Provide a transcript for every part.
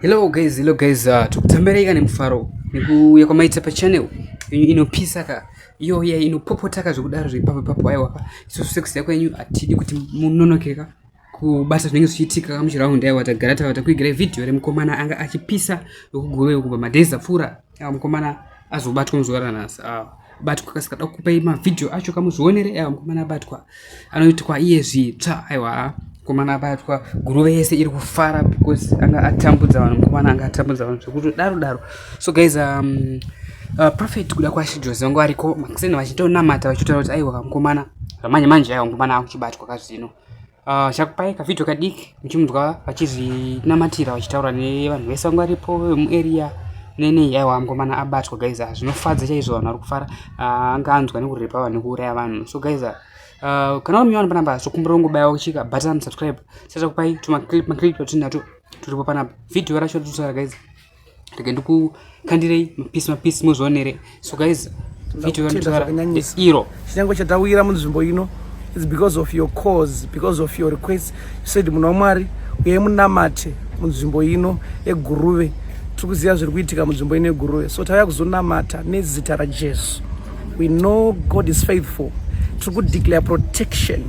Hello guys, hello guys, uh, tukutambereka nemufaro nekuuya kwamaita pachannel inopisa ka iyo iya inopopotaka zvekudaro zvepapo ipapo aiwa ka isusu sex yako yenyu hatidi kuti munonokeka kubasa zvinenge zvichiitika muchiraundi aiwa tagara tava takuigirai vhidhiyo remukomana anga achipisa wekuguve kubva madhezi apfuura aiwa mukomana azobatwa muzuva ranhasi awa batwa kasika da kupai mavhidhiyo acho kamuzvionere aiwa mukomana abatwa anoitwa iye zvitsva aiwa mukomana abatwa guruve yese iri kufara because anga atambudza vanhu mukomana anga atambudza vanhu zvekuti daro daro so guys um, uh, prophet kuda kwashi jose vangu variko makuseni vachitonamata vachitaura kuti aiwa mukomana zvamanje manje aiwa mukomana akuchibatwa kazvino Ah, chakupai kavhidhio kadiki muchimunzwa vachizvinamatira vachitaura nevanhu vese vanga varipo vemuarea nene yaiwa mukomana abatwa guys ah, zvinofadza chaizvo vanhu vari kufara ah, anga anzwa nekurepa vanhu nekuuraya vanhu so guys kana uri munyowani panapa zvokumbira ungobaya uchika button subscribe sachakupai tumaclip maclip twatinato turipo panapa vhidhio racho ratitusara guys rega ndikukandirei mapisi mapisi muzvionere so guys video yanditaura iro chinyange chatawira munzvimbo ino its because of your cause because of your request you said munhu wamwari uye munamate munzvimbo ino eguruve tiri kuziva zviri kuitika munzvimbo ino eguruve so tauya kuzonamata nezita rajesu we know god is faithful tiri kudeclare protection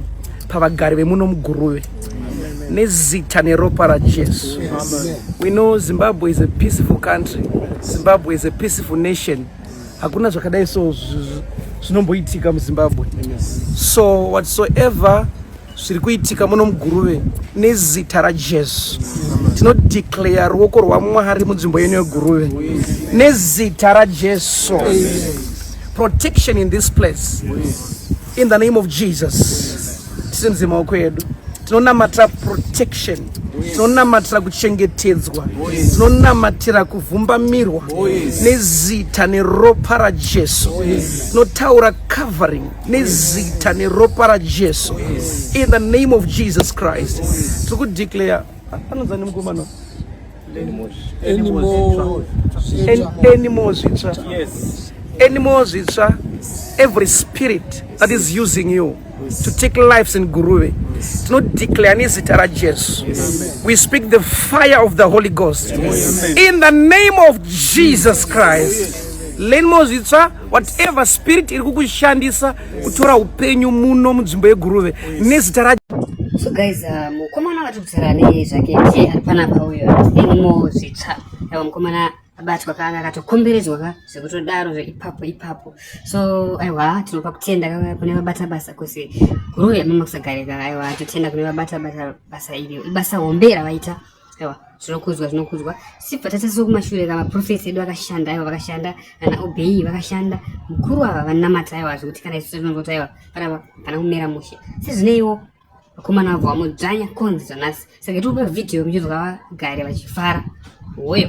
pavagari vemuno muguruve nezita neropa rajesu we know zimbabwe is a peaceful country zimbabwe is a peaceful nation hakuna zvakadai so zvinomboitika muzimbabwe so whatsoever zviri kuitika muno muguruve nezita rajesu tinodeclare ruoko rwamwari munzvimbo yenu yeguruve nezita rajesu protection in this place In the name of Jesus. Tisimudze maoko edu. Tinonamatira protection. Tinonamatira kuchengetedzwa. Tinonamatira kuvhumbamirwa nezita neropa raJesu. Tinotaura covering nezita neropa raJesu. In the name of Jesus Christ. Tiri kudeclare anonzani mukomana. anymore zvitsva anymore zvitsva every spirit that is using you to take lives in guruve tinodeclare nezita rajesu we speak the fire of the holy ghost in the name of jesus christ lenimo zvitsva whatever spirit iri kukushandisa kutora upenyu muno munzvimbo yeguruve nezita ra so guys uh, mukomana vari kutaura nei zvake ti ari panapa uyo inimo zvitsva ava mukomana abatwa kaanga akatokomberedzwa ka zvekutodaro zveipapo ipapo so aiwa tinopa kutenda kune vabata basa kusi guruve mamakusagarika aiwa totenda kune vabata basa iri ibasa hombe ravaita aiwa zvinokudzwa zvinokudzwa sibva tatasiwa kumashure ka maprofesi edu akashanda aiwa vakashanda ana obei vakashanda mukuru ava vanamata aiwa zvekuti kana isu tinozoti aiwa panapa pana kumera mushe sezvineiwo vakomana vabva vamudzvanya konzi zvonasi saka tiri kupa vhidhiyo muchizwa vagare vachifara woyo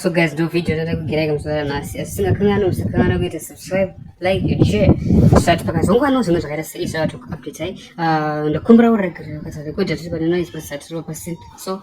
So guys, do video nataka kugira kama sana nasi. Asina kana na usakana na kuita subscribe, like and share. Sasa tupaka zongo ano zimwe zvakaita sei sasa tu update ai. Uh, ndakumbira uri kuzvakata record tiri pano noise pasatiro pasent. So